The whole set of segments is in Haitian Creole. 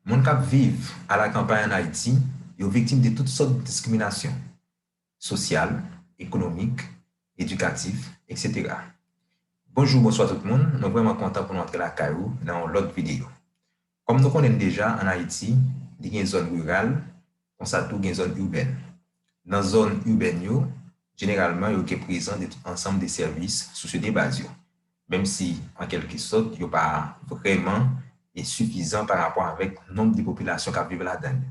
Moun k ap viv alakanpay ann Ayiti yo viktim de tout sòt diskriminasyon, sosyal, ekonomik, edikatif, eksetera. Bonjou bonswa tout moun, mwen vrèman kontan pou nou antre lakay ou nan yon lòt videyo. Kòm nou konnen n deja ann Ayiti li gen zòn riral, Konsa tou gen zòn iubèn. Nan zòn iubèn yo, jeneralman yo gen prezan de tout ansanm de sèvis sosyo de baz yo, menm si an kèlke sòt yo pa vrèman e sifizan pa rapò avèk nonb de popilasyon kap viv ladann yo.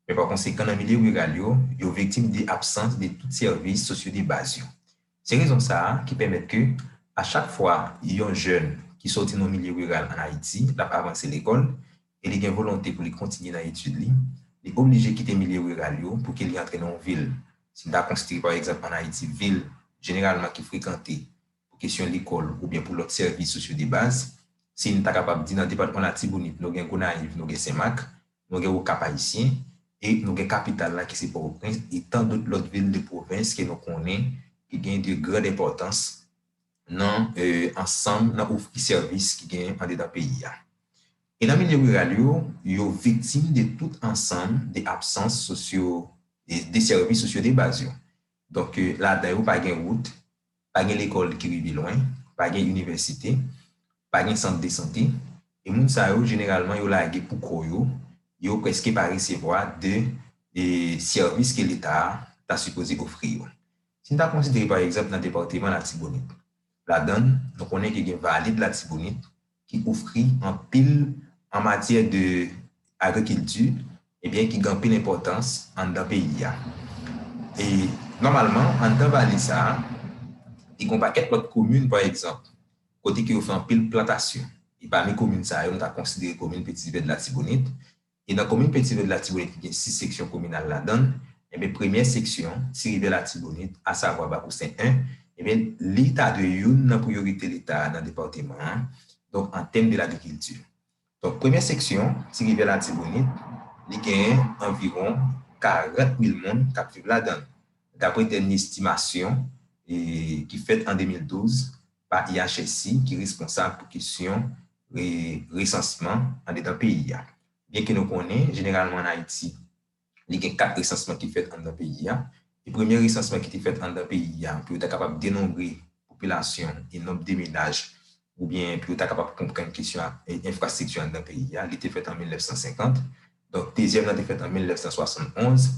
Men pa konsekan nan milye riral yo, yo viktim de absans de tout sèvis sosyo de baz yo. Se rezon sa a ki pèmèt ke a chak fwa yon jèn ki sòti nan milye riral an Ayiti l ap avanse lekòl e li gen volonte pou li kontinye nan etid li, li oblije kite milye riral yo pou ke li antre nan yon vil. Si n ta konsidere pa egzanp an Ayiti vil jeneralman ki frekante pou kesyon lekòl oubyen pou lòt sèvis sosyo debaz, si n ta kapab di nan depatman Latibonit nou gen Gonayiv, nou gen Senmak, Nou gen Okap Ayisyen, e nou gen kapital la ki se Pòtoprens, e tan dout lòt vil de pwovens ke nou konnen ki gen de grand enpòtans nan ansanm nan ofri sèvis ki gen andedan peyi a. E nan milye riral yo, yo viktim de tout ansanm de absans sosyo, de sèvis sosyo de baz yo. Donk ladan yo pa gen wout, pa gen lekòl ki rive lwen, pa gen inivèsite, pa gen sant de sante, e moun sa yo jeneralman yo lage pou kò yo, yo prèske pa resevwa de sèvis ke leta a ta sipoze ofri yo. Si n ta konsidere pa egzanp nan departeman Latibonit, ladan l nou konnen ke gen vale de Latibonit ki ofri anpil an matyè de agrikilti ebyen ki gen anpil enpòtans anndan peyi a. E nòmalman anndan vale sa a ki gen yon pakèt lòt komin pa egzanp kote ke yo fè anpil plantasyon e pami komin sa yo nou ta konsidere komin Petite Rivière de l'Artibonite E nan komin Pentirèd Latibonit ki gen 6 seksyon kominal ladan l, enben premyè seksyon, Ti Rivyè Latibonit, asavwa Bakousen 1, enben li ta dwe youn nan priyorite Leta a nan depatman an, donk an tèm de lagrikilti. Donk premyè seksyon, Ti Rivyè Latibonit, li genyen anviwon 40 mil moun k ap viv ladan l, dapre dènye estimasyon ki fèt an 2012 pa IHSI ki responsab pou kesyon resansman andedan peyi a. Byenke nou konnen, jeneralman ann Ayiti, li gen kat resansman ki fèt anndan peyi a, e premye resansman ki te fèt anndan peyi a pou yo ta kapab denonbre popilasyon e nonb de menaj oubyen pou yo ta kapab konprann kesyon enfrastrikti anndan peyi a, li te fèt an 1950. Donk, dezyèm nan te fèt an 1971.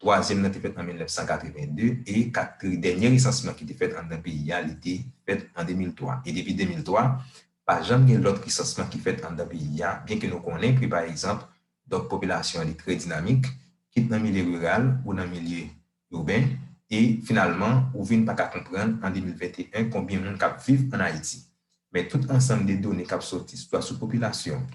Twazyèm nan te fèt an 1982 e kat pri dènye resansman ki te fèt anndan peyi a li te fèt an 2003 e depi 2003 pa janm gen lòt resansman ki fèt anndan peyi a byen ke nou konnen ke pa egzanp donk popilasyon an li trè dinamik kit nan milye riral ou nan milye iben e finalman ou vin pa ka konprann an 2021 konbyen moun k ap viv ann Ayiti men tout ansanm de done k ap sòti swa sou popilasyon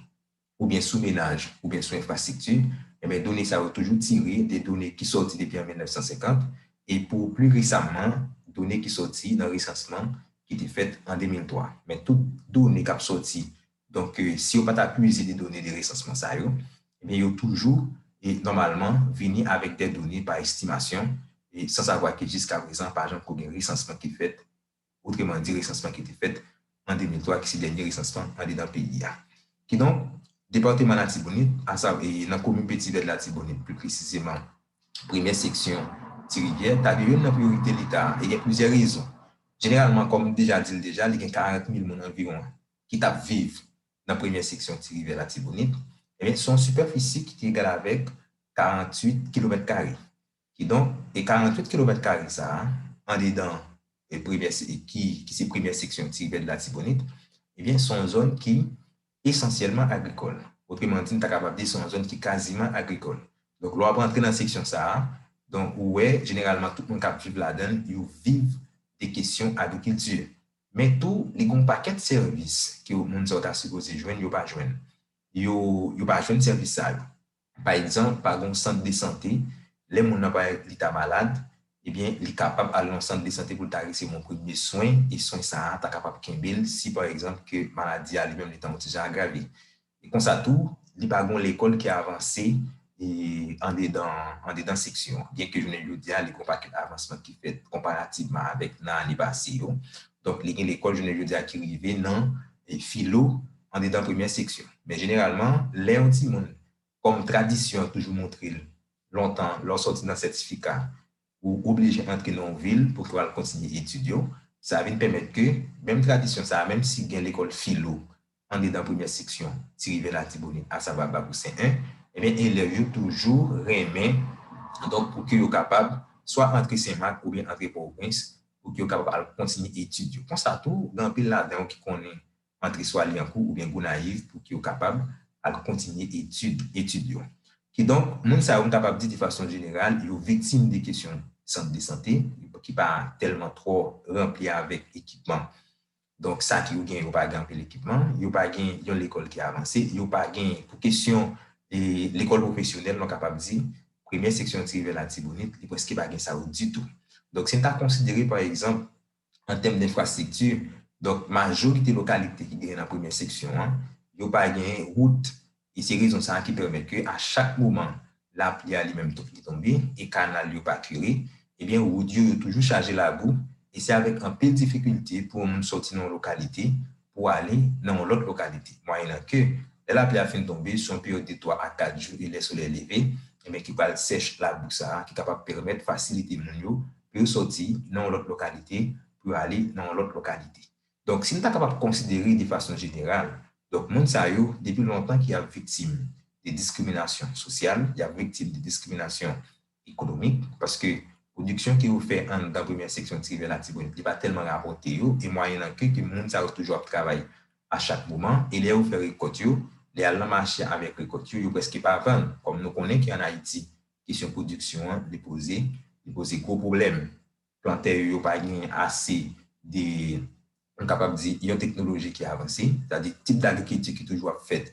oubyen sou menaj oubyen sou enfrastrikti, enben done sa yo toujou tire de done ki sòti depi an 1950 e pou pli resamman done ki sòti nan resansman ki te fèt an 2003. Men tout done k ap sòti, donk si yo pa ta pwize de done de resansman sa yo, enben yo toujou e nòmalman vini avèk dè done pa estimasyon, san savwa ke jiskaprezan pa janm ko gen resansman ki fèt otreman di resansman ki te fèt an 2003 ki se dènye resansman andedan peyi a. Kidonk, Departeman Latibonit, asa e nan komin Peti Vèd Latibonit pli presizeman premyè seksyon Ti Rivyè ta dwe youn nan priyorite Leta e gen plizyè rezon. Jeneralman, kòm m deja di l deja, li gen 40 mil moun anviwon ki t ap viv nan premyè seksyon Ti Rivyè Latibonit. Ebyen, se yon sipèfisi ki egal avèk 48 kilomèt kare. Kidonk, e 48 kilomèt kare sa a, andedan e premyè se ki ki se premyè seksyon Tiribèd Latibonit, ebyen s on zòn ki esansyèlman agrikòl. Otreman di, n ta kapab di s on zòn ki kaziman agrikòl. Donk, lè w ap antre nan seksyon sa a, donk ou wè jeneralman tout moun k ap viv ladan l yo viv de kesyon agrikilti. Men tou, li gen yon pakèt sèvis ke moun sa yo ta sipoze jwenn yo pa jwenn. Yo yo pa jwenn sèvis sa yo. Pa egzanp, pa gen yon sant de sante, lè moun nan pa li ta malad, ebyen li kapab al nan yon sant de sante pou l ta resevwa yon premye swen, e swen sa a ta kapab kenbe l si pa egzanp ke maladi a li menm li ta yon ti jan agrave. E konsa tou, li pa gen yon lekòl ki avanse andedan andedan seksyon an, byenke jounen jodi a li gen yon pakèt avansman ki fèt konparativman avèk nan ane pase yo. Donk li gen lekòl jounen jodi a ki rive nan filo. andedan premyè seksyon. Men jeneralman, lè yon timoun, kòm tradisyon an toujou montre l, lontan lè w sòti nan sètifika, ou oblije antre nan yon vil pou ke w al kontinye etid yo, sa vin pèmèt ke menm tradisyon sa a, menm si gen lekòl filo andedan premyè seksyon Ti Rivyè Latibonit, asavwa Bakou Sen 1, enben elèv yo toujou renmen donk pou ke yo kapab swa antre Sen Mak oubyen antre Pòtoprens pou ke yo kapab al kontinye etid yo. Konsa tou, gen anpil ladan yo ki konnen antre swa Lyankou oubyen Gonayiv pou ki yo kapab al kontinye etid etid yo. Kidonk, moun sa yo m kapab di de fason jeneral yo viktim de kesyon sant de sante ki pa tèlman twò ranpli avèk ekipman. Donk sa ki yo gen yo pa gen anpil ekipman, yo pa gen yon lekòl ki avanse, yo pa gen pou kesyon lekòl pwofesyonèl mwen kapab di premyè seksyon an ti rive Latibonit li prèske pa gen sa yo ditou. Donk si n ta konsidere pa egzanp an tèm denfrastrikti, donk majorite lokalite ki genyen nan premyè seksyon an, yo pa genyen wout, e se rezon sa a ki pèmèt ke a chak moman lapli a li menm tou li tonbe e kanal yo pa kire, ebyen wout yo yo toujou chaje labou, e se avèk anpil difikilte pou yon moun sòti nan yon lokalite pou ale nan yon lòt lokalite, mwayennan ke lè lapli a fin tonbe sou yon peryòd de 3 a 4 jou e lè solèy leve, ebyen ki pral sèch labou sa a ki kapab pèmèt fasilite moun yo pou yo sòti nan yon lòt lokalite pou yo ale nan yon lòt lokalite. Donk, si n ta kapab konsidere de fason jeneral, donk moun sa yo depi lontan ki ap viktim de diskriminasyon sosyal, y ap viktim de diskriminasyon ekonomik, paske pwodiksyon ke yo fè anndan premyè seksyon ti rivè Latibonit li pa tèlman rapòte yo, e mwayennan ke ke moun sa yo toujou ap travay a chak moman, e lè yo fè rekòt yo, lè y al nan mache avèk rekòt yo, yo prèske pa vann, kòm nou konnen ke ann Ayiti, Kesyon pwodiksyon an li poze, li poze gwo pwoblèm. Plantè yo yo pa gen ase de, m kapab di, yon teknoloji ki avanse. Sa di tip dagrikilti ki toujou ap fèt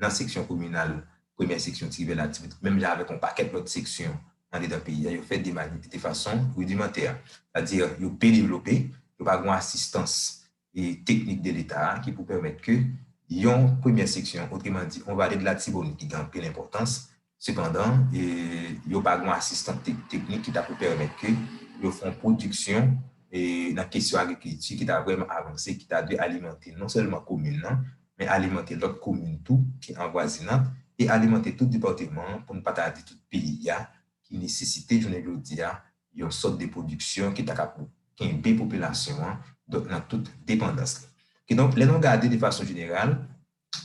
nan seksyon kominal, premyè seksyon Tiribèl ak Tibonit, menm jan avèk yon pakèt lòt seksyon andedan peyi a, yo fèt de mani, de fason ridimantè. Sa di yo pe devlope, yo pa gen yon asistans teknik de leta a ki pou pèmèt ke yon premyè seksyon, otreman di, yon vale de latibonit ki gen anpil enpòtans, sepandan, yo pa gen yon asistan teknik ki ta pou pèmèt ke yo fè yon pwodiksyon nan kesyon agrikilti ki ta vrèman avanse, ki ta dwe alimante non sèlman komin nan, men alimante lòt komin tou ki anvwazinant, e alimante tout depatman an, pou n pa ta di tout peyi a, ki nesesite jounen jodi a yon sòt de pwodiksyon ki ta kab kenbe popilasyon an donk nan tout depandans li. Kidonk lè nou gade de fason jeneral,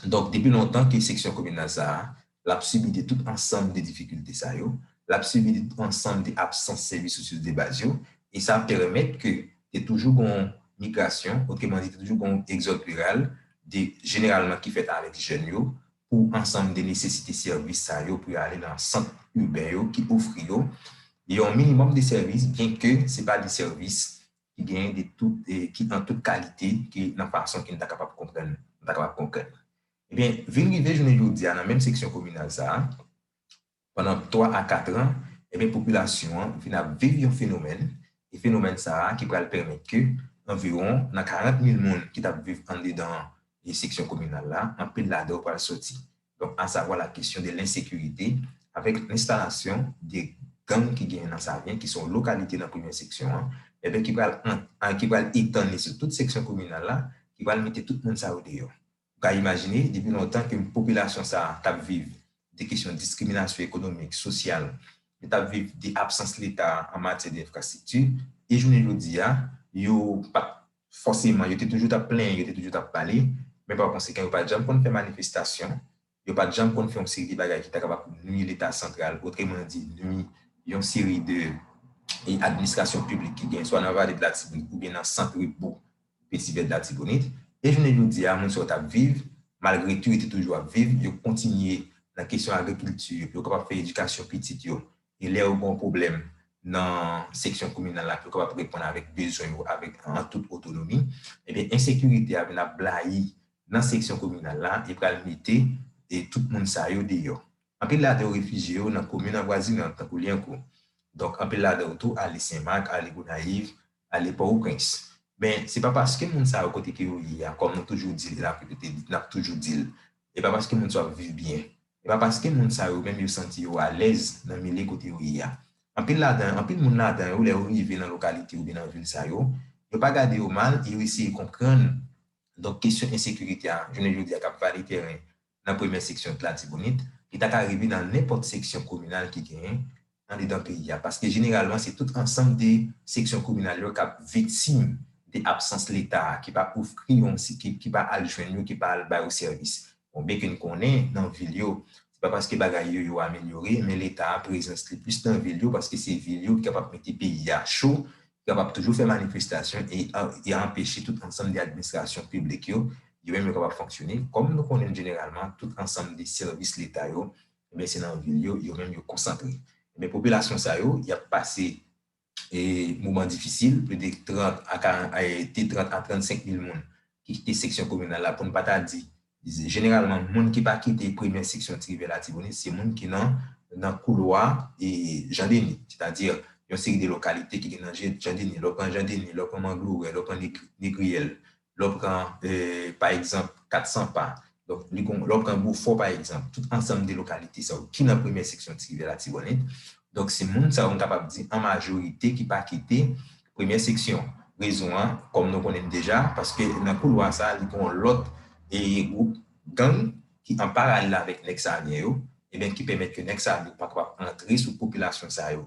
donk depi lontan ke seksyon kominal sa a, l ap sibi de tout ansanm de difikilte sa yo, l ap sibi de tout ansanm de absans sèvis resous de baz yo, e sa pèrmèt ke te toujou gon migrasyon, otremandi te toujou gon egzòd riral de jeneralman ki fèt avèk jèn yo, pou ansanm de nesesite sèvis sa yo pou yo ale nan sant iben yo ki ofri yo yon minimòm de sèvis byen ke se pa de sèvis ki genyen de tout ki an tout kalite ke nan fason ke n ta kapab konprann nou ta kapab konkrètman. Ebyen vin rive jounen jodi a nan menm seksyon kominal sa a Pandan 3 a 4 an, ebyen popilasyon an vin ap viv yon fenomèn, e fenomèn sa a ki pral pèmèt ke anviwon nan 40 mil moun ki t ap viv andedan seksyon kominal la, anpil ladan yo pral soti. Donk asavwa la kesyon de lensekirite avèk enstalasyon de gang ki genyen nan Savyen ki se yon lokalite nan premyè seksyon an, ebyen ki pral an, ki pral etann li sou tout seksyon kominal la, ki pral mete tout moun sa yo deyò. Ou ka imajine, depi lontan ke popilasyon sa a t ap viv de kesyon diskriminasyon ekonomik, sosyal, yo t ap viv de absans Leta an matyè de enfrastrikti, e jounen jodi a, yo pa t fòseman, yo te toujou t ap plenyen, yo te toujou t ap pale, men pa konsekan yo pa janm konn fè manifestasyon, Yo pa t janm konn fè yon seri de bagay ki ta kapab nui Leta santral, otreman di, nui yon seri de administrasyon piblik ki genyen swa nan Vale de Latibonit oubyen nan sant repo Peti Vè de Latibonit. E jounen jodi a, moun sa yo t ap viv, malgre tou yo te toujou ap viv, yo kontinye nan kesyon agrikilti, yo kapab fè edikasyon pitit yo, E lè yo gen yon pwoblèm nan seksyon kominal la, yo kapab reponn avèk bezwen yo avèk an tout otonomi. Ebyen ensekirite a vin ap blayi nan seksyon kominal la e pral mete e tout moun sa yo deyò. Anpil ladan yo refijye yo nan komin anvwazinant tankou Lyankou. Donk anpil ladan yo tou ale Sen Mak, ale Gonayiv, ale Pòwoprens. Men se pa paske moun sa yo kote ke yo ye a, kòm nou toujou di l la, repete li, n ap toujou di l, e pa paske moun sa yo ap viv byen, E pa paske moun sa yo menm yo santi yo alèz nan milye kote yo ye a. Anpil ladan anpil moun ladan yo lè yo rive nan lokalite oubyen nan vil sa yo, yo pa gade yo mal e yo eseye konprann donk kesyon ensekirite a jounen jodi a k ap vale tèren nan premyè seksyon t Latibonit, li ta ka rive nan nenpòt seksyon kominal ki genyen andedan peyi a paske jeneralman se tout ansanm de seksyon kominal yo k ap viktim de absans leta a ki pa ofri yo ki pa al jwenn yo ki pa al ba yo sèvis bon byenke n konnen nan vil yo se pa paske bagay yo yo amelyore men leta a prezans li plis nan vil yo paske se vil yo ki kapab mete peyi a cho ki kapab toujou fè manifestasyon e e anpeche tout ansanm de administrasyon piblik yo yo menm yo kapab fonksyone kòm nou konnen jeneralman tout ansanm de sèvis leta yo Ebyen se nan vil yo, yo menm yo konsantre. Ebyen popilasyon sa yo, y ap pase moman difisil, plis de 30 a 40, de 30 a 35 mil moun ki kite seksyon kominal la, pou n pa ta di, jeneralman moun ki pa kite premyè seksyon ti rivyè latibonit se moun ki nan nan koulwa Jan Deni, sètadi yon seri de lokalite ki gen nan Jan Deni, lè w pran Jan Deni, lè w pran Manglouwè, lè w pran Negriyèl, lè w pran pa egzanp 400 pa, donk li kon, lè w pran Bofò pa egzanp, tout ansanm de lokalite sa yo ki nan premyè seksyon Ti Rivyè Latibonit, donk se moun sa yo m kapab di an majorite ki pa kite premyè seksyon. Rezon an, kòm nou konnen l deja, paske nan koulwa sa a li gen yon lòt gwoup gang ki an paralèl avèk Nèg Savyen yo, eben ki pèmèt ke Nèg Savyen yo pa kapab antre sou popilasyon sa yo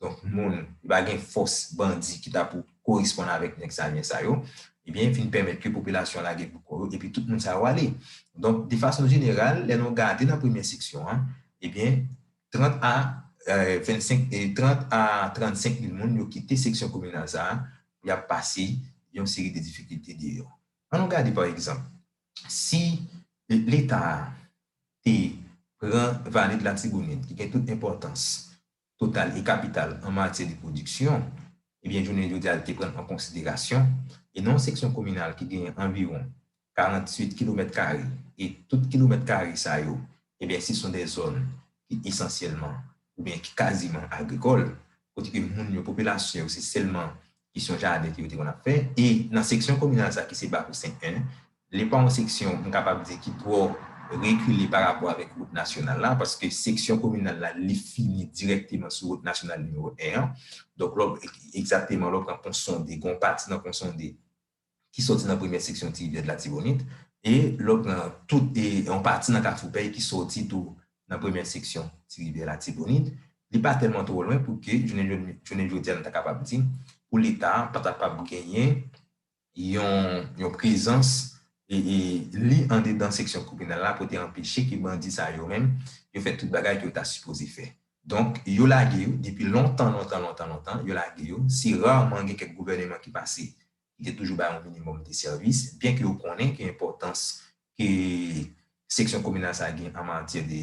Donk moun li pa gen fòs bandi ki ta pou koresponn avèk nèg Savien sa yo, ebyen vin pèmèt ke popilasyon lage bouko yo epi tout moun sa yo ale. Donk de fason jeneral lè nou gade nan premyè seksyon an ebyen 30 a 25 30 a 35 mil moun yo kite seksyon kominal sa a pou y ap pase yon seri de difikilte deyò. An nou gade pa egzanp si leta a te pran vale de latibonit ki gen tout enpòtans total e kapital an matyè de pwodiksyon, ebyen jounen jodi a li te pran an konsiderasyon, e nan yon seksyon kominal ki genyen anviwon 48 kilomèt kare, e tout kilomèt kare sa yo, ebyen se son de zòn ki esansyèlman oubyen ki kaziman agrikòl, kote ke moun yo, popilasyon yo se sèlman Kesyon jaden ke yo te konn ap fè. E nan seksyon kominal sa ki se Bakou 5 1, li pa yon seksyon m kapab di ki twò rekile pa rapò avèk wout nasyonal la, paske seksyon kominal la li fini dirèkteman sou wout nasyonal nimewo 1 an. Donk lè w, egzakteman lè w pran Ponsonde, gen yon pati nan Ponsonde, ki sòti nan premyè seksyon ti rivyè dlatibonit e lòt nan tout e yon pati nan kafou pèy ki sòti tou nan premyè seksyon ti rivyè latibonit li pa tèlman twò lwen pou ke jounen jounen jodi a nou ta kapab di pou leta pa ta pab genyen yon yon prezans e e li andedan seksyon kominal la pou te anpeche ke bandi sa yo menm yo fè tout bagay ke yo ta sipoze fè. Donk, yo lage yo, depi lontan, lontan, lontan, lontan, yo lage yo. Se rarman gen kèk gouvèneman ki pase ki te toujou bay yon minimòm de sèvis, byen ke yo konnen ke enpòtans ke seksyon kominal sa gen an matyè de,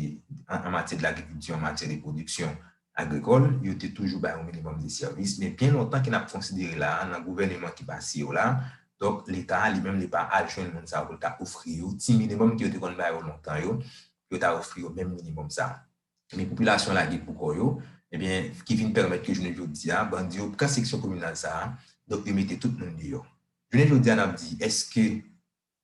an matyè de lagrikilti, an matyè de pwodiksyon agrikòl, yo te toujou bay yon minimòm de sèvis. Men byen lontan ke n ap konsidere la a, nan gouvèneman ki pase yo la a, donk, Leta a li menm li pa al jwenn moun sa yo pou l ta ofri yo ti minimòm ke yo te konn ba yo lontan yo, pou yo ta ofri yo menm minimòm sa a. ebyen popilasyon lage pou kò yo, ebyen ki vin pèmèt ke jounen jodi a bandi yo pran seksyon kominal sa a, donk yo mete tout moun deyò. Jounen jodi a n ap di èske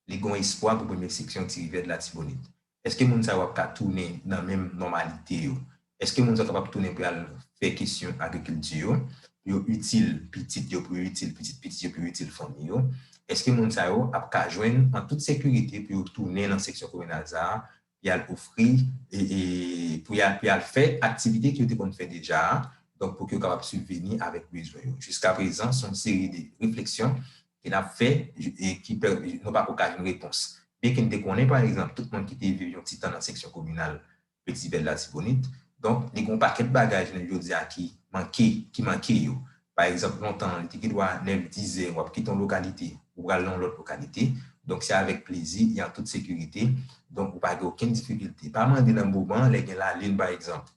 li gon espwa pou premye seksyon Ti Rivyè de Latibonit? Èske moun sa yo ap ka tounen nan menm nòmalite yo? Èske moun sa yo kapab tounen pou y al fè kesyon agrikilti yo, pou yo itil pitit yo, pou yo itil pitit pitit yo, pou yo itil fanmi yo? Èske moun sa yo ap ka jwenn an tout sekirite pou yo tounen nan seksyon kominal sa a pou y al ofri, pou y al fè aktivite ke yo te konn fè deja a, donk pou ke yo kapab sibveni avèk bezwen yo. Jiskaprezan, se yon seri de refleksyon ke n ap fè e ki nou pa ko ka jwenn repons. Byenke n te konnen, pa egzanp, tout moun ki te viv yon ti tan nan seksyon kominal Petibèl Latibonit, donk li gen yon pakèt bagay jounen jodi a ki manke yo. Pa egzanp, lontan an, li te gen dwa nèf, dis zè, w ap kite yon lokalite, ou pral nan yon lòt lokalite. Donk, se avèk plezi e an tout sekirite. Donk, ou pa gen okenn difikilte. Pa mande nan moman an, lè gen lalin pa egzanp,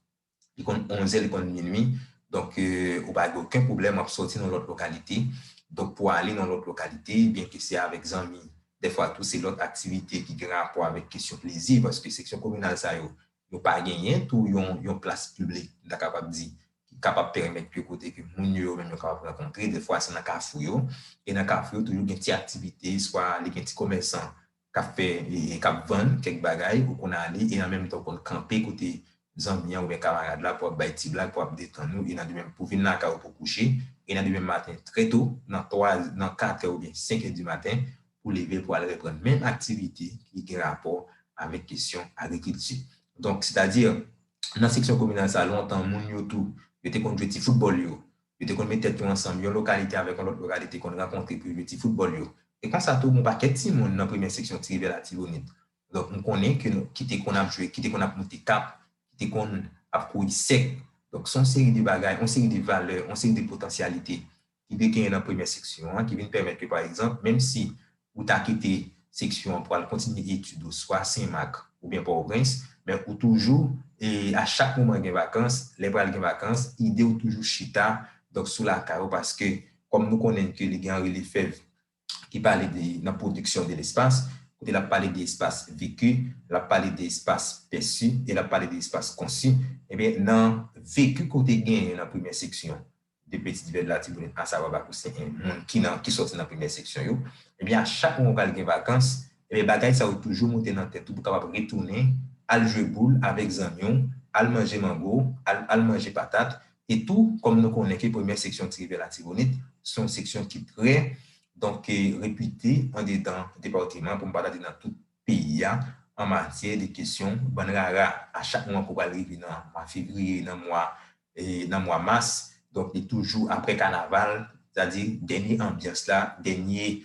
li konn onzè, li konn minui, donk, ou pa gen oken pwoblèm, w ap sòti nan yon lòt lokalite, donk, pou ale nan yon lòt lokalite, byenke se avèk zanmi. Dèfwa tou, se lòt aktivite ki gen rapò avèk kesyon plezi, paske seksyon kominal sa yo, Yo pa genyen tou yon plas piblik, m ta kapab di, ki kapab pèmèt yo kote ke moun yo yo menm yo kapab rankontre. Dèfwa se nan kafou yo. E nan kafou yo toujou gen ti aktivite, swa li gen ti komèsan k ap fè, k ap vann kèk bagay, ou konn ale e an menm tan ou konn kanpe kote zanmi an oubyen kamarad la pou ap bay ti blag, pou ap detann ou e nan demenm pou vin lakay ou pou kouche. E nan demenm maten trè to, nan 3, nan 4 è oubyen 5 è di maten, pou leve pou al reprann menm aktivite ki gen rapò avèk kesyon agrikilti. Donk, sètadi, nan seksyon kominal sa a, lontan, moun yo tou, yo te konn jwe ti foutbòl yo, yo te konn met tèt yo ansanm, yon lokalite avèk yon lòt lokalite konn rankontre pou yo jwe ti foutbòl yo. E konsa tou, yon pakèt timoun nan premyè seksyon Ti Rivyè Latibonit, donk m konnen ke nou, ki te konn ap jwe, ki te konn ap moute kap, ki te konn ap kouri sèk. Donk, se yon seri de bagay, yon seri de valè, yon seri de potansyalite ki te genyen nan premyè seksyon an, ki vin pèmèt ke pa egzanp, menm si ou ta kite seksyon an pou al kontinye etid ou swa Sen Mak oubyen Pòtoprens, men ou toujou, e a chak moman gen vakans, lè pral gen vakans, ide ou toujou chita, donk sou lakay ou, paske kòm nou konnen ke li gen Anri Lefèv ki pale de nan pwodiksyon de lespas, kote l ap pale de espas veki, l ap pale de espas pèsi e l ap pale de espas konsi. Ebyen, nan veki ke w te genyen nan premye seksyon de Peti Divèn Latibonit asavwa Bakousen 1, moun ki nan, ki sòti nan premye seksyon yo, ebyen a chak mwa ou pral gen vakans, ebyen bagay sa yo toujou moute nan tèt ou pou kapab retounen al jwe boul avèk zanmi w, al manje mango, al al manje patat, E tou, kòm nou konnen ke premyè seksyon Ti Rivyè Latibonit se yon seksyon ki trè donk repite andedan depatiman, pou m pa ta di nan tout peyi a, an matyè de kesyon bann rara. A chak mwa ke w pral rive nan mwa fevriye, nan mwa nan mwa mas, donk li toujou apre kanaval, sètadi dènye anbyans la, dènye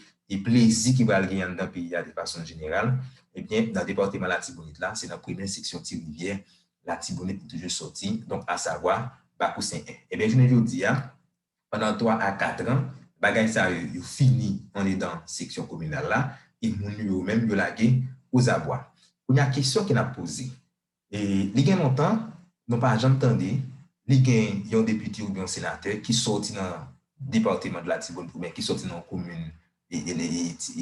plezi ki pral gen anndan peyi a de fason jeneral, ebyen nan depatiman Latibonit la, se nan premyè seksyon Ti Rivyè Latibonit li toujou soti, donk asavwa, Bakou Sen 1. Ebyen jounen jodi a, pandan 3 a 4 an, bagay sa yo, yo fini andedan seksyon kominal la, e moun yo yo menm yo lage ozabwa. Kounye a kesyon ke n ap poze, e li gen lontan nou pa janm tande ni gen yon depite oubyen yon senatè ki soti nan depateman de Latibonit oubyen ki soti nan yon komin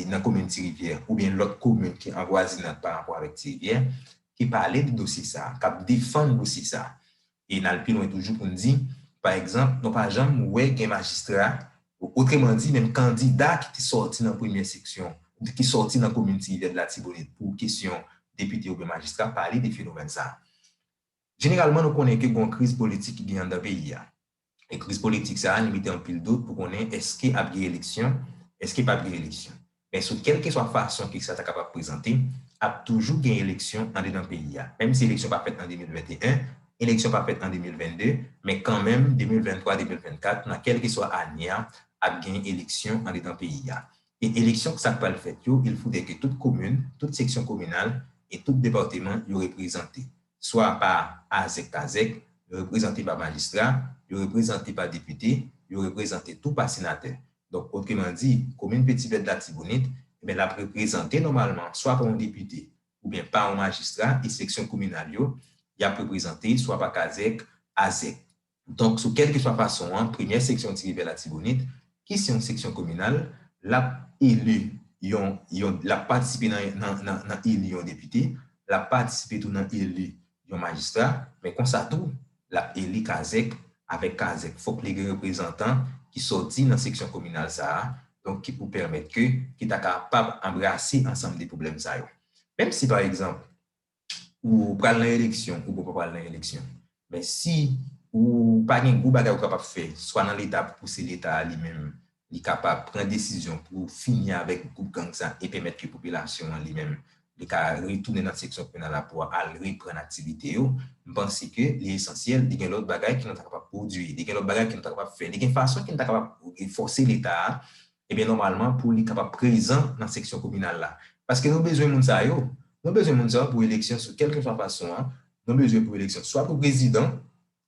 nan komin Ti Rivyè oubyen lòt komin ki an vwazinad pa rapò avèk Ti Rivyè ki pale de dosye sa a, k ap defann dosye sa a. E n al pi lwen toujou pou n di, pa egzanp, nou pa janm wè gen majistra, otreman di menm kandida ki te sòti nan premyè seksyon, ki sòti nan komin Ti Rivyè, Latibonit pou kesyon depite oubyen majistra pale de fenomèn sa a. Jeneralman nou konnen ke gon kriz politik ki gen anndan peyi a. E kriz politik sa a li mete anpil dout pou konnen eske ap gen eleksyon, eske pap gen eleksyon. Men sou kelkeswa fason ke sa ta kapab prezante, ap toujou gen eleksyon andedan peyi a. Menm si eleksyon pa fèt an 2021, eleksyon pa fèt an 2022, men kanmenm 2023, 2024 nan kelkeswa ane a ap gen eleksyon andedan peyi a. E eleksyon k sak pral fèt yo, il foudè ke tout komin, tout seksyon kominal e tout departeman yo reprezante. swa pa azèkpazèk, yo reprezante pa majistra, yo reprezante pa depite, yo reprezante tou pa senatè. Donk, otreman di, komin Peti Vèt Latibonit, enben l ap reprezante nòmalman swa pa yon depite oubyen pa yon majistra e seksyon kominal yo, y ap reprezante swa pa kazèk, azèk. Donk, sou kèlkeswa fason an, Premyè Seksyon Ti Rivyè Latibonit, ki se yon seksyon kominal, l ap eli yon, yon, l ap patisipe nan, nan, nan, nan eli yon depite, l ap patisipe tou nan eli yon majistra, men konsa tou, l ap eli kazèk, avèk kazèk, fòk li gen reprezantan ki sòti nan seksyon kominal sa a, donk ki pou pèmèt ke, ki ta kapab anbrase ansanm de pwoblèm sa yo. Menm si, pa egzanp, ou pral nan eleksyon ou poko pral nan eleksyon men si ou pa gen gwo bagay ou kapab fè swa nan leta pou pouse leta a li menm li kapab pran desizyon pou fini avèk gwoup gang sa e pèmèt ke popilasyon an li menm li ka retounen nan seksyon penal la pou al reprann aktivite yo m panse ke li esansyèl li gen lòt bagay ke nou ta kapab pwodui li gen lòt bagay ke nou ta kapab fè li gen fason ke nou ta kapab fòse leta a Ebyen nòmalman pou li kapab prezan nan seksyon kominal la. Paske nou bezwen moun sa yo. Nou bezwen moun sa yo pou eleksyon sou kèlkeswa fason an, nou bezwen pou eleksyon swa pou prezidan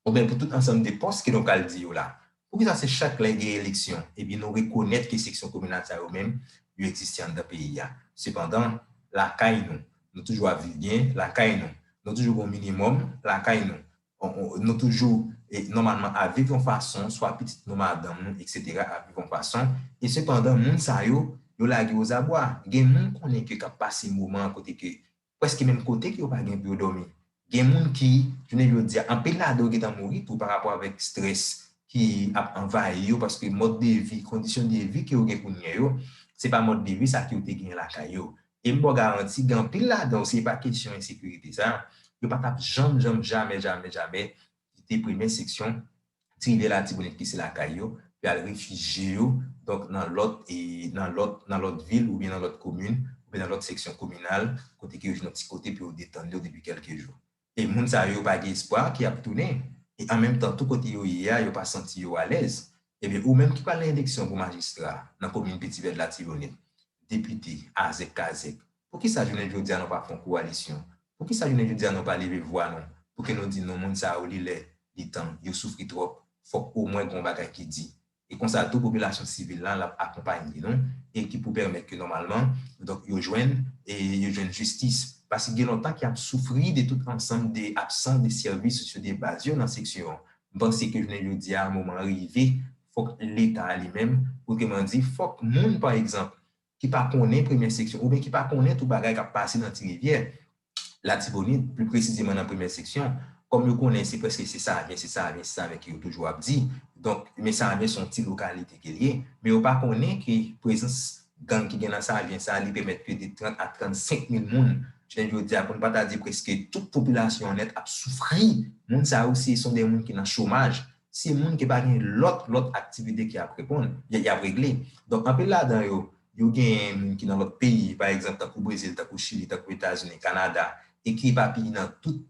oubyen pou tout ansanm de pòs ke nou pral di yo la. Poukisa se chak lè gen eleksyon epi nou rekonèt ke seksyon kominal sa yo menm yo egziste anndan peyi a? Sepandan, lakay nou, nou toujou ap viv byen, lakay nou, nou toujou gen yon minimòm, lakay nou, Nou toujou, nòmalman, ap viv yon fason, swa pitit nou, madanm nou, eksetera, ap viv yon fason, e sepandan moun sa yo, yo lage ozabwa. Gen moun konnen ke k ap pase moman kote ke prèske menm kote ke yo pa gen pou yo dòmi. Gen moun ki, jounen jodi a, anpil ladan yo gentan mouri tou parapò avèk strès ki ap anvayi yo paske mòd de vi, kondisyon de vi ke yo gen kounye yo, se pa mòd de vi sa ke yo te genyen lakay yo. E m ba w garanti gen anpil ladan yo si e pa kesyon ensekirite sa, yo pa t ap janm janm jamè jamè jamè kite premyè seksyon ti rivyè latibonit ki se lakay yo pou y al refijye yo donk nan lòt nan lòt nan lòt vil oubyen nan lòt komin oubyen nan lòt seksyon kominal kote ke yo jwenn yon ti kote pou yo detann yo depi kèlke jou. E moun sa yo yo pa gen espwa ke y ap tounen, e an menm tan tou kote yo ye a yo pa santi yo alèz, ebyen ou menm ki pral nan eleksyon pou majistra nan komin Piti Vèd Latibonit, depite, azèk kazèk, poukisa jounen jodi a nou pa fè yon kowalisyon, poukisa jounen jodi a nou pa leve vwa nou pou ke nou di non moun sa yo li lè, li tan, yo soufri twòp, fòk omwen gen yon bagay ki di, e konsa tou popilasyon sivil la l ap akonpanye nou e ki pou pèmèt ke nòmalman donk yo jwenn e yo jwenn jistis paske gen lontan ke y ap soufri de tout ansanm de absans de sèvis sosyo de baz yo nan seksyon an. M panse ke jounen jodi a moman an rive fòk leta li menm otreman di fòk moun pa egzanp ki pa konnen Premyè Seksyon oubyen ki pa konnen tou bagay k ap pase nan Tirivyè, Latibonit, pli presizeman nan Premyè Seksyon, kòm yo konnen se prèske se Savyen, se Savyen, se Savyen ke yo toujou ap di, donk, men Savyen se yon ti lokalite ke l ye, men yo pa konnen ke prezans gang ki gen nan Savyen sa a li pèmèt ke de 30 a 35 mil moun jounen jodi a, pou n pa ta di prèske tout popilasyon an nèt ap soufri, moun sa yo se son de moun ki nan chomaj, Se moun ki pa gen lòt lòt aktivite ki ap reponn, y ap regle. Donk anpil ladan yo, yo gen moun ki nan lòt peyi, pa egzanp tankou Brezil, tankou Chili, tankou Etazini, Kanada, e ki epapiye nan tout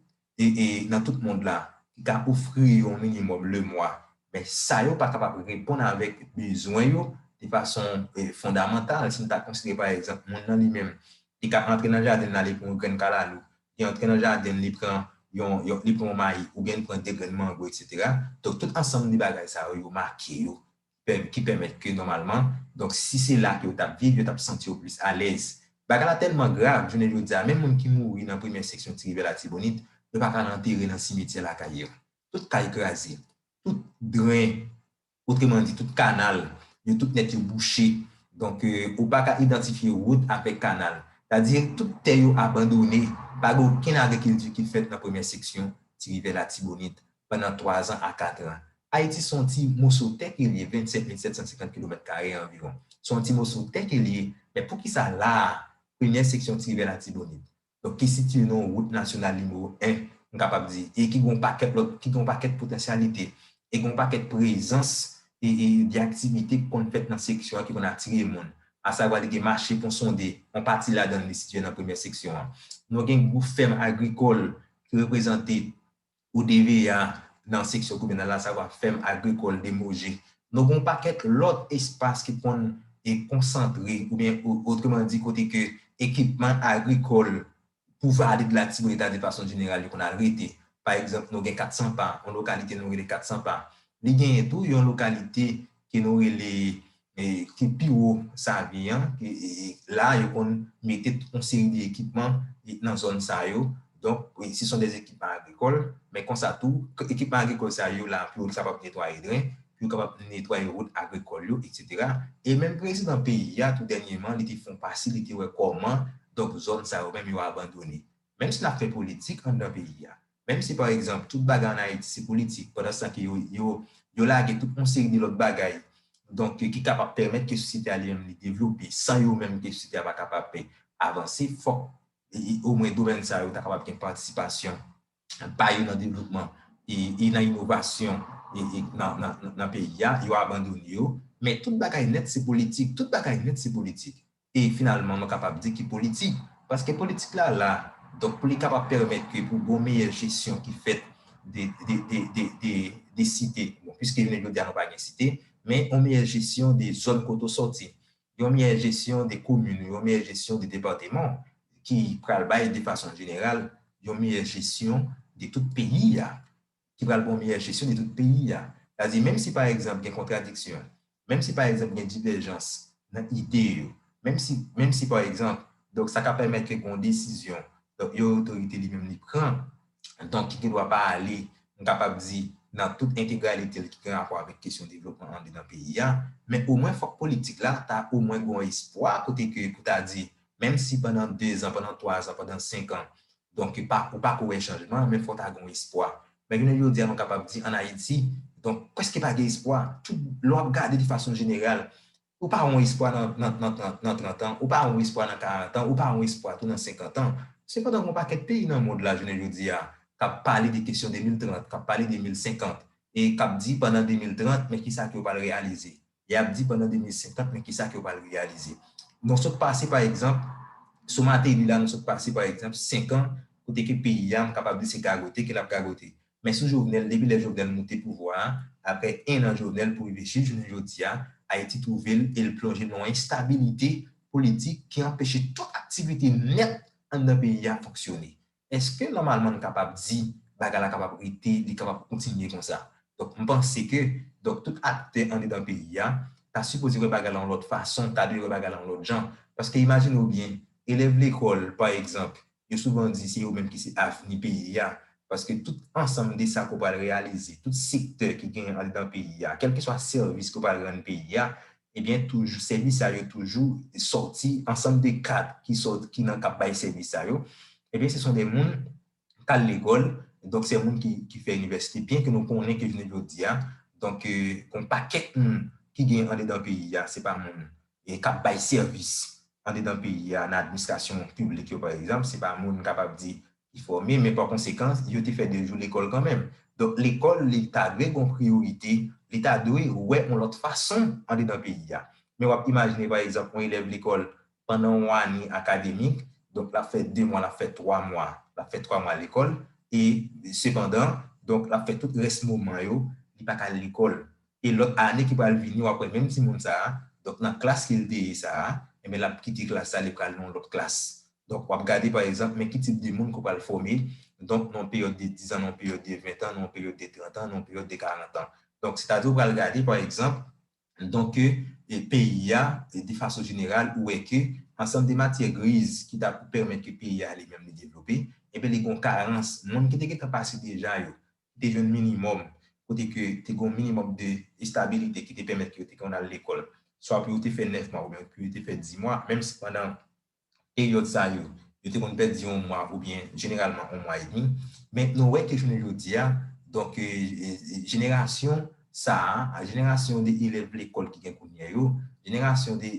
nan tout mond la, ki ka ofri yo yon minimòm lemwa. Men sa yo pa kapab reponn avèk bezwen yo de fason fondamantal. Si n ta konsidere pa egzanp moun nan li menm, li ka antre nan jaden l ale pran yon grenn kalalou, li antre nan jaden l li pran yon li pran yon mayi oubyen li pran 2 grenn mango eksetera donk tout ansanm de bagay sa yo yo make yo ki pèmèt ke nòmalman donk si se la ke yo t ap viv yo t ap santi yo plis alèz bagay la tèlman grav jounen jodi a menm moun ki mouri nan premyè seksyon ti rivyè latibonit yo pa ka al antere nan simetyè lakay yo tout kay kraze tout dren. Otreman di, tout kanal yo tout nèt yo bouche. Donk, ou pa ka idantifye wout avèk kanal. Sa di, tout tè yo abandone. Pa gen okenn agrikilti ki fèt nan premyè seksyon Ti Rivyè Latibonit pandan twazan a katran. Ayiti se yon ti moso tè ke l ye, 27750 kilomèt kare anviwon. Se yon ti moso tè ke l ye. Men poukisa la a, premyè seksyon Ti Rivyè Latibonit? Donk ki sitiye nan wout nasyonal nimewo 1, m kapab di, e ki gen yon pakèt lòt, ki gen yon pakèt potansyalite, e gen yon pakèt prezans e de aktivite ki konn fèt nan seksyon an ki konn atire moun. Asavwa li gen mache Pon Sonde, yon pati ladan li sitiye nan premyè seksyon an. Nou gen gwo fèm agrikòl ki reprezante Pou TVA nan seksyon kominal la sa va fèm agrikòl demoje. Nou gen yon pakèt lòt espas ki konn konsantre oubyen otreman di kote ke ekipman agrikòl pou vale de latibonita de fason jeneral yo konn al rete. Pa egzanp nou gen 400 pa, yon lokalite nou rele 400 pa. Li genyen tou yon lokalite ke nou rele ki pi wo Savyen an, la yo konn mete tout yon seri de ekipman nan zòn sa yo, donk se son des ekipman agrikòl, men konsa tou ekipman agrikòl sa yo la pou yo kapab netwaye dren, pou yo kapab netwaye wout agrikòl yo etsetera, e menm prezidan peyi a tou dènyeman li te fon pase li te wè kòman donk zòn sa yo menm yo abandone, menm si n ap fè politik anndan peyi a, Menm si pa egzanp tout bagay an Ayiti se politik pandanstan ke yo yo lage tout yon seri de lòt bagay donk ki kapab pèmèt ke sosyete a li menm li devlope san yo menm ke sosyete a pa kapab avanse fòk omwen domèn sa yo ta kapab gen patisipasyon pa yo nan devlopman e nan inovasyon nan peyi a yo abandone yo men tout bagay nèt se politik tout bagay nèt se politik e finalman mwen kapab di ki politik, paske politik la la donk pou li kapab pèmèt ke pou gon meyè jesyon ki fèt de de de de de de site, bon piske jounen jodi a nou pa gen site, men yon meyè jesyon de zòn kote w sòti, yon meyè jesyon de komin ou, yon meyè jesyon de depateman w ki pral bay de fason jeneral yon meyè jesyon de tout peyi a. ki pral pran miyè jesyon de tout peyi a. Sa di menm si pa egzanp gen kontradiksyon, menm si pa egzanp gen divèjans nan ide yo, menm si, menm si pa egzanp, donk sa ka pèmèt ke gen yon desizyon, donk yon otorite li menm li pran, donk ki gen dwa pa ale, m kapab di, nan tout entegralite l ki gen rapò avèk kesyon devlopman andedan peyi a, men omwen fòk politik la ta omwen gen yon espwa kote ke pou ta di menm si pandan dezan, pandan twazan, pandan senkan, Donk yo pa, ou pa ko wè chanjman, men fò ta gon espwa. Men jounen jodi a nou kapab di an Ayiti, donk prèske pa gen espwa. Tout, lè w ap gade de fason jeneral, ou pa won espwa nan, nan, nan tran, nan trantan, ou pa won espwa nan karantan, ou pa won espwa tou nan senkantan. Sepandan gon pakèt peyi nan mond la jounen jodi a k ap pale de kesyon 2030, k ap pale 2050, e k ap di pandan 2030 men kisa ke yo pral reyalize. Y ap di pandan 2050 men kisa ke yo pral reyalize. Nou sot pase pa egzanp, sou Mateli la nou sot pase pa egzanp 5 an kote ke peyi a m kapab di se gagote ke l ap gagote. Men sou Jovenel depi lè Jovenel moute pouvwa a, aprè 1 an Jovenel pou rive jis jounen jodi a, Ayiti twouve l e l plonje nan yon enstabilite politik ki anpeche tout aktivite nèt anndan peyi a fonksyone. Eske nòmalman n kapab di bagay la kapab rete, li kapab kontinye konsa? Donk m panse ke donk tout aktè andedan peyi a ta sipoze wè bagay la yon lòt fason, ta dwe wè bagay la yon lòt jan. Paske imajine w byen, elèv lekòl pa egzanp, yo souvan di se yo menm ki se avni peyi a, paske tout ansanm de sa ke w pral reyalize, tout sektè ki genyen andedan peyi a, kèlkeswa sèvis ke w pral rann peyi a, Ebyen toujou sèvis sa yo toujou sòti ansanm de kad ki sòt ki nan kap bay sèvis sa yo ebyen se son de moun kal lekòl donk sè moun ki ki fè inivèsite byen ke nou konnen ke jounen jodi a donk gon pakèt moun ki gen andedan peyi a se pa moun e kap bay sèvis andedan peyi a nan administrasyon piblik yo pa egzanp se pa moun kapab di Li fòme, men pa konsekan, yo te fè 2 jou lekòl kanmenm. Donk lekòl li ta dwe gen yon priyorite, li ta dwe wè yon lòt fason andedan peyi a. Men w ap imajine pa egzanp yon elèv lekòl pandan yon ane akademik, donk l ap fè 2 mwa, l ap fè 3 mwa, l ap fè 3 mwa lekòl e sepandan, donk l ap fè tout rès moman yo li pa ka al lekòl. E lòt ane ki pral vini w ap wè menm timoun sa a, donk nan klas ke l te ye sa a, enben l ap kite klas sa a li pral nan yon lòt klas. Donk, w ap gade pa egzanp, men ki tip de moun ke w pral fòme, donk nan yon peryòd de dizan, nan yon peryòd de ventan, nan yon peryòd de trantan, nan yon peryòd de karantan. Donk, sètadi w pral gade pa egzanp, donk ke peyi a, de fason jeneral, ou wè ke ansanm de matyè griz ki ta pou pèmèt ke peyi a li menm li devlope, enben li gen yon karans. Moun ki te gentan pase deja yo, ki te jwenn minimòm, kote ke te gen yon minimòm de estabilite ki te pèmèt ke yo te konn al lekòl, swa pou yo te fè nèf mwa oubyen pou yo te fè di mwa, menm si pandan peryòd sa yo, yo te konn pèdi yon mwa oubyen jeneralman yon mwa edmi. Men nou wè ke jounen jodi a, donk jenerasyon sa a, jenerasyon de elèv lekòl ki gen kounyè yo, jenerasyon de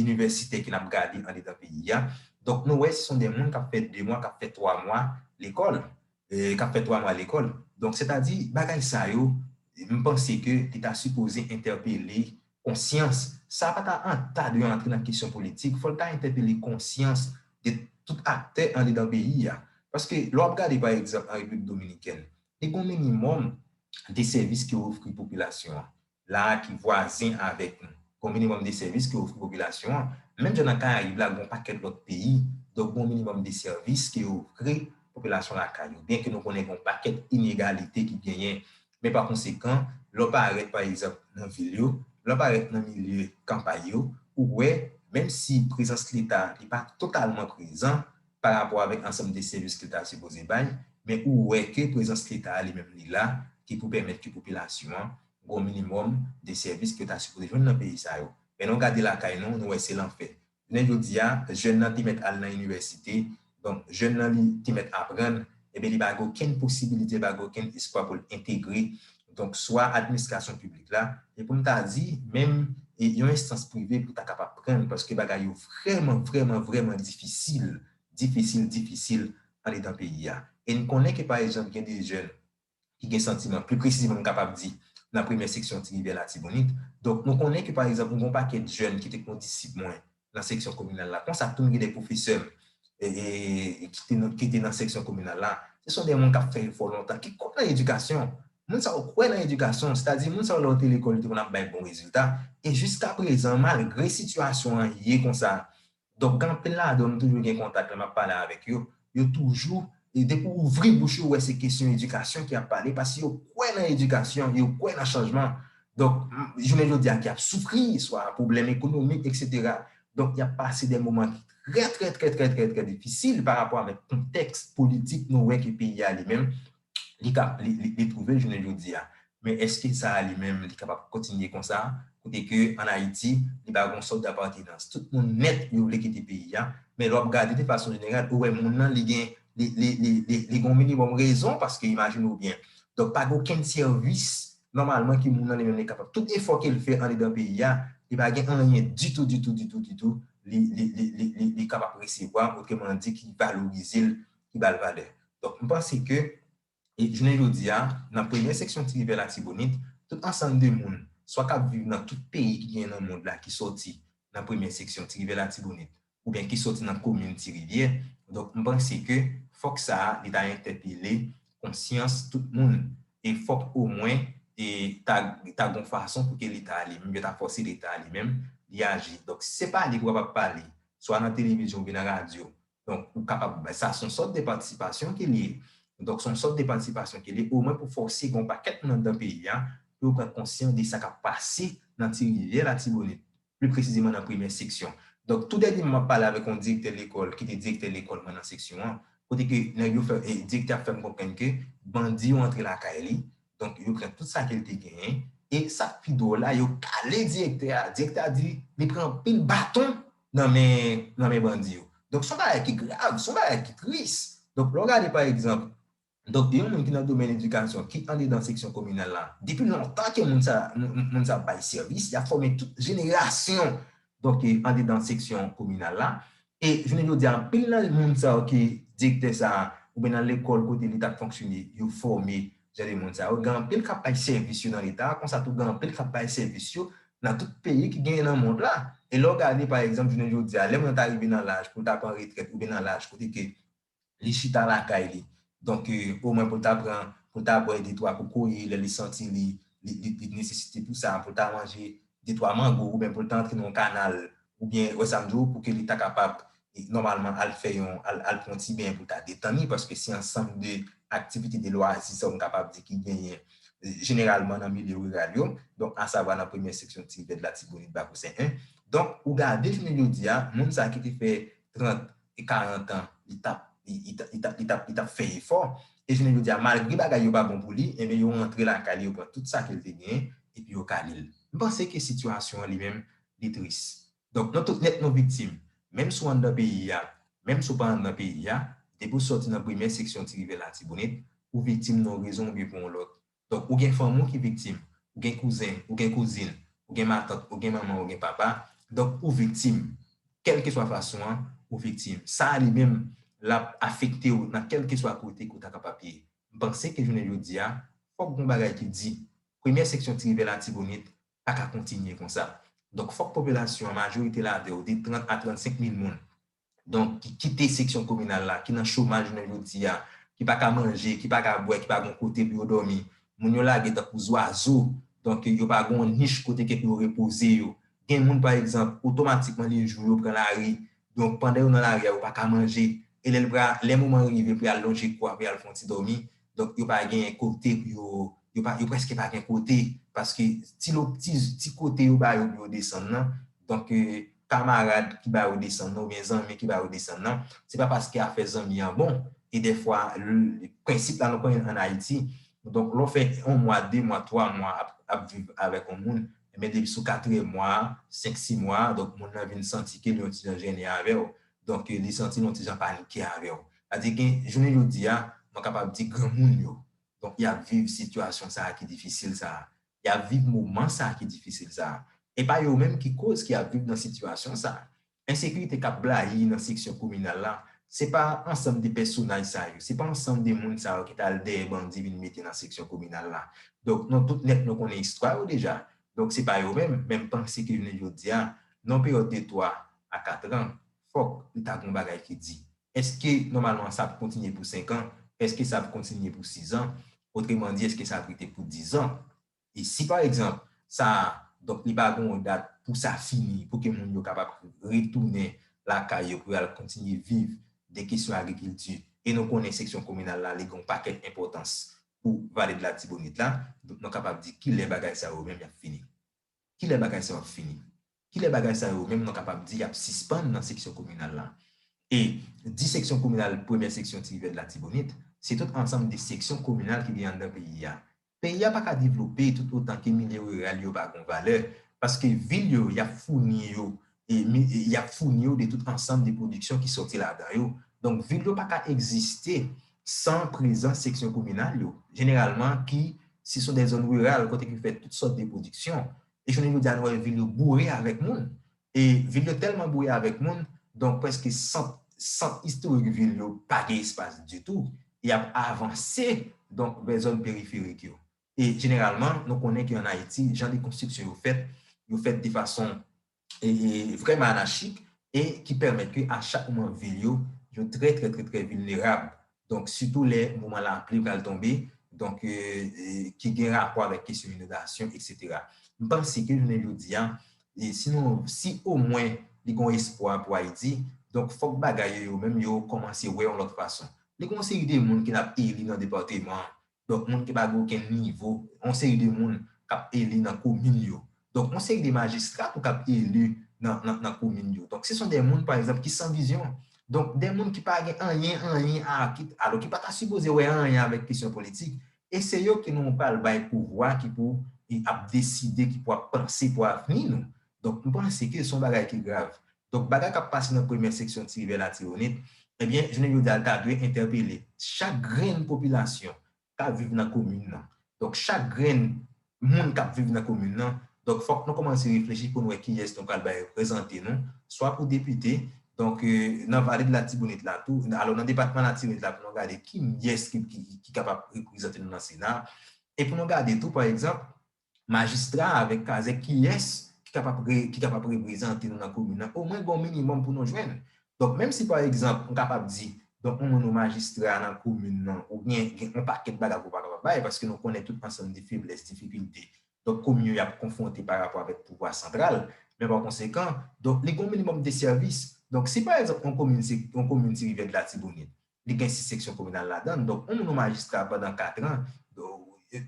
inivèsitè ke n ap gade andedan peyi a, donk nou wè se son de moun k ap fè de mwa, k ap fè twa mwa lekòl. k ap fè 3 mwa lekòl. Donk sètadi bagay sa yo m panse ke li ta sipoze entèpele konsyans, sa pa ta an ta dwe antre nan kesyon politik, fò l ta entèpele konsyans de tout aktè andedan peyi a. Paske lè w ap gade pa egzanp an Repiblik Dominikèn, li gon minimòm de sèvis ki ofri popilasyon an. la a ki vwazen avèk nou, gon minimòm de sèvis ki ofri popilasyon an, menm jan nan Karayib la gon pakèt lòt peyi, donk gon minimòm de sèvis ki ofri popilasyon lakay yo, byenke nou konnen gon pakèt inegalite ki genyen, men pa konsekan, lè w parèt pa egzanp nan vil yo, lè w parèt nan milye kanpay yo, ou wè, menm si prezans Leta li pa totalman prezan, pa rapò avèk ansanm de sèvis ke l ta sipoze bay, men ou wè ke prezans leta a li menm li la ki pou pèmèt ke popilasyon an gen yon minimòm de sèvis ke yo ta sipoze jwenn nan peyi sa yo. Men lè w gade lakay nou, nou wè se lanfè. Jounen jodi a, jèn nan te mèt al nan inivèsite, donk jèn nan li te mèt aprann, enben li pa gen okenn posibilite, li pa gen okenn espwa pou l entegre donk swa administrasyon piblik la, e pou m ta di, menm yon enstans prive pou ta kapab pran l, paske bagay yo vrèman, vrèman, vrèman difisil, difisil, difisil andedan peyi a. E n konnen ke pa egzanp gen de jèn ki gen santiman, pli presizeman m kapab di nan premyè seksyon Ti Rivyè Latibonit, donk nou konnen ke pa egzanp gen yon pakèt jèn ki te kondisip mwen nan seksyon kominal la konsa tou m gen de pwofesè m ki te nan seksyon kominal la se son de moun k ap fè efò lontan ki kwè nan edikasyon moun sa yo kwè nan edikasyon sètadi moun sa yo lè yo te lekòl yo te konn ap bay bon rezilta e jiska prezan malgre sitiyasyon an ye konsa donk gen anpil ladan yo m toujou gen kontak lè m ap pale avèk yo yo toujou e depi w ouvri bouch yo ou wè se kesyon edikasyon ki ap pale paske yo kwè nan edikasyon, yo kwè nan chanjman. Donk, jounen jodi a ki ap soufri, swa pwoblèm ekonomik eksetera. Donk, y ap pase de moman ki trè trè trè trè trè trè difisil parapò avèk kontèks politik nou wè ke peyi a li menm li ka li twouve l jounen jodi a. Men èske sa li menm li kapab kontinye konsa kote ke an Ayiti li pa gon sòt dapatenans. Tout moun nèt yo vle kite peyi a men lè w ap gade de fason jeneral ou wè moun lan li gen li gen yon minimòm rezon paske imajine w byen donk pa gen okenn sèvis nòmalman ke moun lan li menm li kapab tout efò ke l fè andedan peyi a li pa gen anyen ditou ditou ditou ditou li li li li li kapab resevwa otremandi ki valorize l ki ba l valè. Donk, m panse ke jounen jodi a, nan premye seksyon Ti Rivyè Latibonit, tout ansanm de moun, swa k ap viv nan tout peyi ki genyen nan mond la ki soti nan premye seksyon Ti Rivyè Latibonit oubyen ki soti nan komin Ti Rivyè. Donk, m panse ke fòk sa a li ta entèpele konsyans tout moun e fòk omwen e ta ta gon fason pou ke Leta a li menm, yo ta fòse Leta a li menm li aji. Donk, se pale pou kapab pale, swa nan televizyon oubyen nan radyo Donk ou kapab, sa son sòt de patisipasyon ke li ye. Donk son sòt de patisipasyon ke li ye, omwen pou fòse gen yon pakèt moun anndan peyi a pou yo pran konsyan de sa kap pase nan ti rivyè Latibonit, pli presizeman nan premyè seksyon. Donk tou dènyèman map pale avèk yon direktè lekòl ki te direktè lekòl mwen nan seksyon an, kote ke nèg yo fè, direktè a fèm konprann ke bandi yo antre lakay li, donk yo pran tout sa ke li te genyen, e sak pi dwòl la yo kale direktè a, direktè a di li pran anpil baton nan men nan men bandi yo. Donk son bagay ki grav, son bagay ki tris. Donk lè w gade pa egzanp, donk yon moun ki nan domèn edikasyon ki andedan seksyon kominal la, depi lontan ke moun sa moun sa ap bay sèvis, y ap fòme tout jenerasyon donk andedan seksyon kominal la. E jounen jodi a anpil nan moun sa yo ki direktè sa a oubyen nan lekòl kote li t ap fonksyone yo fòme Jan de moun sa yo, gen anpil k ap bay sèvis yo nan Leta a, konsa tou gen anpil k ap bay sèvis yo nan tout peyi ki genyen nan mond la. E lè w gade pa egzanp jounen jodi a, lè moun nan ta rive nan laj pou l ta pran retrèt oubyen nan laj kote ke li chita lakay li, donk omwen pou l ta pran, pou l ta bwè detwa kokoye lè li santi li, li li gen nesesite pou sa, pou l ta manje de twa mango ou byen pou l ta antre nan yon kanal ou byen wè sa m di w pou ke li ta kapab nòmalman al fè yon al pran yon ti benyen pou l ta detann li paske se ansanm de aktivite de lwazi sa yo m kapab di ki genyen jeneralman nan milye riral yo donk asavwa nan premyè seksyon Tiribèd Latibonit Bakosen 1 donk ou gade jounen jodi a moun sa ki te fè 30 e 40 an li tap li tap li tap fè efò e jounen jodi a malgre bagay yo pa bon pou li enben yo rantre lakay li yo pran tout sa ke li te genyen epi yo kale l. M panse ke sitiyasyon an li menm li tris. Donk nou tout nèt nou viktim menm si w anndan peyi a menm si w pa anndan peyi a depi w sòti nan premyè seksyon Ti Rivyè Latibonit ou viktim nan yon rezon oubyen pou yon lòt Donk ou gen fanmi w ki viktim, ou gen kouzen, ou gen kouzin, ou gen matant, ou gen manman, ou gen papa, donk ou viktim. Kèlkeswa fason an, ou viktim. Sa a li menm, l ap afekte w nan kèlkeswa kote ke w ta kapab ye. M panse ke jounen jodi a, fòk gon bagay ki di. Premyè seksyon Ti Rivyè Latibonit pa ka kontinye konsa. Donk fòk popilasyon an, majorite ladan yo, de 30 a 35 mil moun, donk ki kite seksyon kominal la, ki nan chomaj jounen jodi a, ki pa ka manje, ki pa ka bwè, ki pa gen yon kote pou yo dòmi. Moun yo lage tankou zwazo, donk yo pa gen yon nich kote ke pou yo repoze yo. Gen moun, pa egzanp, otomatikman li jou yo pran lari, donk pandan yo nan lari a yo pa ka manje, e lè l pra, lè moman rive pou y al lonje kou a pou y al fè yon ti dòmi, Donk yo pa gen kote pou yo, yo pa, yo prèske pa gen kote paske ti lo, ti, ti kote yo ba yo pou yo desann nan, donk kamarad ki ba yo desann nan oubyen zanmi ki ba yo desann nan, se pa paske afè zanmi an bon e dèfwa prensip la nou konnen ann Ayiti, donk lè w fè yon mwa, de mwa, twa mwa ap, ap viv avèk yon moun, men depi sou katriyèm mwa a, senk si mwa a, donk moun nan vin santi ke li yon ti jan jennen avè w, Donk li santi l yon ti jan panike avè w. Sa di gen jounen jodi a, mwen kapab di granmoun yo, donk y ap viv sitiyasyon sa a ki difisil sa a. Y ap viv moman sa a ki difisil sa a. E pa yo menm ki koz ki ap viv nan sitiyasyon sa a. Ensekirite k ap blayi nan seksyon kominal la, se pa ansanm de pèsonaj sa yo, se pa ansanm de moun sa yo ki t al dèyè bandi vin mete nan seksyon kominal la. Donk nou tout nèt nou konnen istwa yo deja. Donk se pa yo menm, men m panse ke jounen jodi a, nan yon peryòd de 3 a 4 an, fòk li ta gen yon bagay ki di. Èske nòmalman sa ap kontinye pou 5 an? Èske sa ap kontinye pou 6 an? Otreman di, èske sa ap rete pou 10 an? E si pa egzanp, sa, donk li pa gen yon dat pou sa fini, pou ke moun yo kapab retounen lakay yo pou yo al kontinye viv de kesyon agrikilti, e nou konnen seksyon kominal la li gen yon pakèt enpòtans pou Vale de Latibonit la, donk nou kapab di ki lè bagay sa yo menm y ap fini? Ki lè bagay sa yo ap fini? Ki lè bagay sa yo menm nou kapab di y ap sispann nan seksyon kominal la? E di seksyon kominal premyè seksyon Ti Rivyè de Latibonit, se tout ansanm de seksyon kominal ki gen anndan peyi a. Peyi a pa ka devlope tout otan ke milye riral yo pa gon valè, paske vil yo y ap founi yo y ap founi yo de tout ansanm de pwodiksyon ki sòti ladan yo. Donk, vil yo pa ka egziste san prezans seksyon kominal yo, jeneralman ki se son dè zòn riral kote ki fèt tout sòt de pwodiksyon. E jounen jodi a nou wè vil yo boure avèk moun. E vil yo tèlman boure avèk moun, donk prèske sant, sant istorik vil yo pa gen espas ditou. Y ap avanse donk vè zòn periferik yo. E jeneralman, nou konnen ke an Ayiti, jan de konstriksyon yo fèt, yo fèt de fason vrèman anachik e ki pèmèt ke a chak moman vil yo, yo trè trè trè trè vilnerab. Donk, sitou lè moman lapli pral tonbe, donk ki gen rapò avèk kesyon inondasyon, eksetera. M panse ke jounen jodi a, si nou, si omwen li gen yon espwa pou Ayiti, donk fòk bagay yo yo menm yo kòmanse wè yon lòt fason. Li gen yon seri de moun ke n ap eli nan depateman an, Donk moun ki pa gen okenn nivo, yon seri de moun k ap eli nan komin yo. Donk yon seri de majistra tou k ap eli nan komin yo. Donk se son dè moun pa egzanp ki san vizyon. Donk dè moun ki pa gen anyen anyen a ki alò ki pa ta sipoze wè anyen avèk kesyon politik e se yo ke nou pral bay pouvwa ki pou ap deside ki pou ap panse pou avni nou. Donk m panse ke se yon bagay ki grav. Donk bagay k ap pase nan premyè seksyon Ti Rivyè Latibonit, ebyen jounen jodi a l ta dwe entèpele chak grenn popilasyon k ap viv nan komin nan. Donk chak grenn moun k ap viv nan komin nan, donk fòk nou kòmanse reflechi pou n wè kiyès nou pral bay reprezante nou, swa pou depite, donk nan vale de Latibonit la tou, alò nan depatman Latibonit la pou nou gade kiyès ki kapab reprezante nou nan sena, e pou nou gade tou pa egzanp Majistra avèk kazèk kiyès ki kapab ki kapab reprezante nou nan komin nan omwen gen yon minimòm pou nou jwenn donk menm si pa egzanp m kapab di donk ou menm ou majistra nan komin nan ou byen gen yon pakèt bagay ke w pa kapab bay paske nou konnen tout ansanm de feblès difikilte donk komin yo y ap konfwonte pa rapò avèk pouvwa santral men pa konsekan donk li gen yon minimòm de sèvis donk si pa egzanp yon komin se yon komin se Rivyèdlatibonit Li gen 6 seksyon kominal ladan l. Donk yon moun yon majistra pandan 4 an,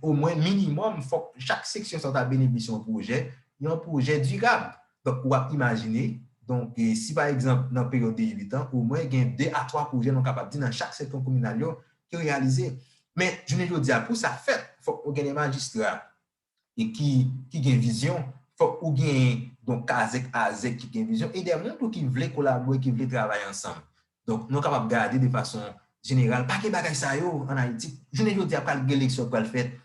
omwen minimòm fòk chak seksyon sa yo ta benefisye yon pwojè, yon pwojè dirab. Donk ou ap imajine, donk si pa egzanp nan peryòd de 8 an, omwen gen 2 a 3 pwojè nou kapab di nan chak seksyon kominal yo ki reyalize. Men jounen jodi a pou sa fèt fòk nou gen de majistra e ki ki gen vizyon, fòk ou genyen yon kazèk azèk ki gen vizyon e dè moun tou ki vle kolabore, ki vle travay ansanm. Donk, nou kapab gade de fason jeneral, pa gen bagay sa yo ann Ayiti. Jounen jodi a, pral gen eleksyon k pral fèt,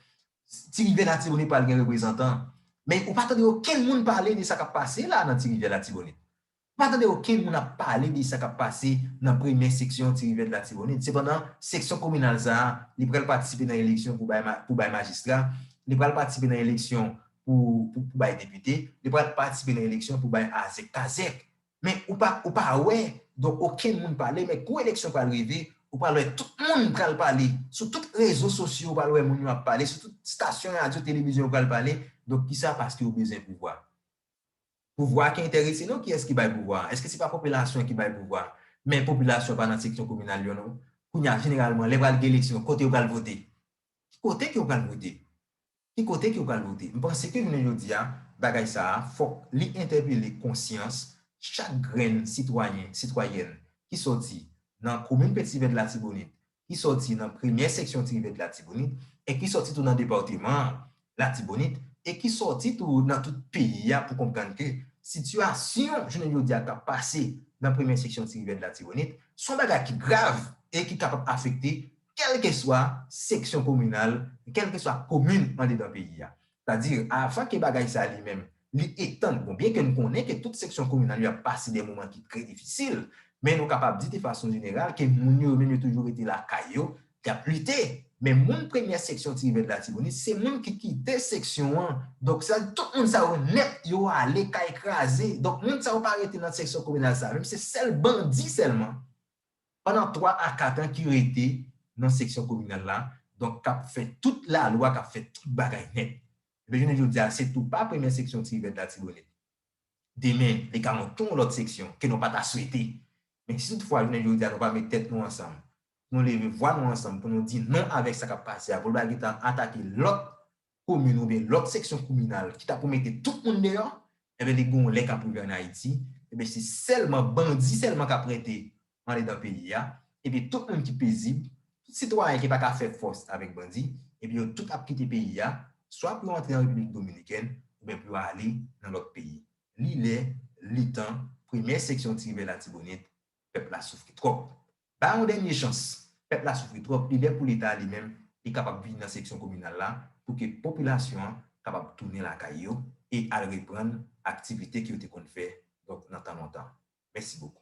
Ti Rivyè Latibonit pral gen reprezantan, men ou pa tande okenn moun pale de sa k ap pase la nan Ti Rivyè Latibonit. M pa tande okenn moun ap pale de sa k ap pase nan premyè seksyon Ti Rivèd Latibonit. Sepandan, seksyon kominal sa a, li pral patisipe nan eleksyon pou bay pou bay majistra, li pral patisipe nan eleksyon pou pou pou bay depite, li pral patisipe nan eleksyon pou bay azèk kazèk. Men, ou pa ou pa wè, donk okenn moun pale, men kou eleksyon pral rive, ou pral wè tout moun pral pale. Sou tout rezo sosyo ou pral wè moun yo ap pale, sou tout stasyon radyo televizyon yo pral pale. Donk ki sa? Paske yo bezwen pouvwa. Pouvwa ki entèrese nou kiyès ki bay pouvwa a? Eske se pa popilasyon ki bay pouvwa a? Men popilasyon pa nan seksyon kominal yo non. Kounye a jeneralman lè pral gen eleksyon kote yo pral vote? Ki kote ke yo pral vote? Ki kote ke yo pral vote? M panse ke jounen jodi a bagay sa a fòk li entèpele konsyans chak grenn sitwayen, sitwayèn ki sòti nan komin Petit Vert Latibonit, ki sòti nan premyè seksyon Ti Rivèt Latibonit e ki sòti tou nan departeman an, Latibonit, e ki sòti tou nan tout peyi a pou konprann ke sitiyasyon jounen jodi a k ap pase nan premyè seksyon Ti Rivèt Latibonit s on bagay ki grav e ki kapab afekte kèlkeswa seksyon kominal, kèlkeswa komin andedan peyi a. Sètadi, avan ke bagay sa li menm, li etann, bon, byenke n konnen ke tout seksyon kominal yo ap pase de moman ki trè difisil, men nou kapab di de fason jeneral ke moun yo, yo menm yo toujou rete lakay yo, y ap lite. Men moun premyè seksyon Tirivèd Latibonit, se moun ki kite seksyon an. Donk, sa di tout moun sa yo nèt, yo ale kay kraze. Donk, moun sa yo pa rete nan seksyon kominal sa menm, se sèl bandi sèlman Pandan 3 a 4 an ki rete nan seksyon kominal la, donk k ap fè tout lalwa, k ap fè tout bagay nèt. Ebyen jounen jodi a, se tou pa premyè seksyon Tivèt Latibonit. Demen, li ka antre yon lòt seksyon ke nou pa ta swete. Men si tout fwa jounen jodi a nou pa met tèt nou ansanm, pou nou leve vwa nou ansanm pou nou di non avèk sa k ap pase a, pou nou pa gen tan atake lòt komin oubyen lòt seksyon kouminal ki ta pou mete tout moun deyò, enben li gon lè k ap rive ann Ayiti, enben se sèlman bandi sèlman k ap rete andedan peyi a, enben tout moun ki pezib, tout sitwayen ki pa ka fè fòs avèk bandi, enben yo tout ap kite peyi a, swa pou yo antre an Repiblik Dominikèn oubyen pou yo ale nan lòt peyi. Li lè, li tan, premyè seksyon Tiribè Latibonit, pèp la soufri twòp. Ba yon dènye chans. Pèp la soufri twòp, li lè pou leta li menm li kapab vini nan seksyon kominal la pou ke popilasyon an kapab tounen lakay yo e al reprann aktivite ke yo te konn fè donk nan tan lontan. Mèsi bokou.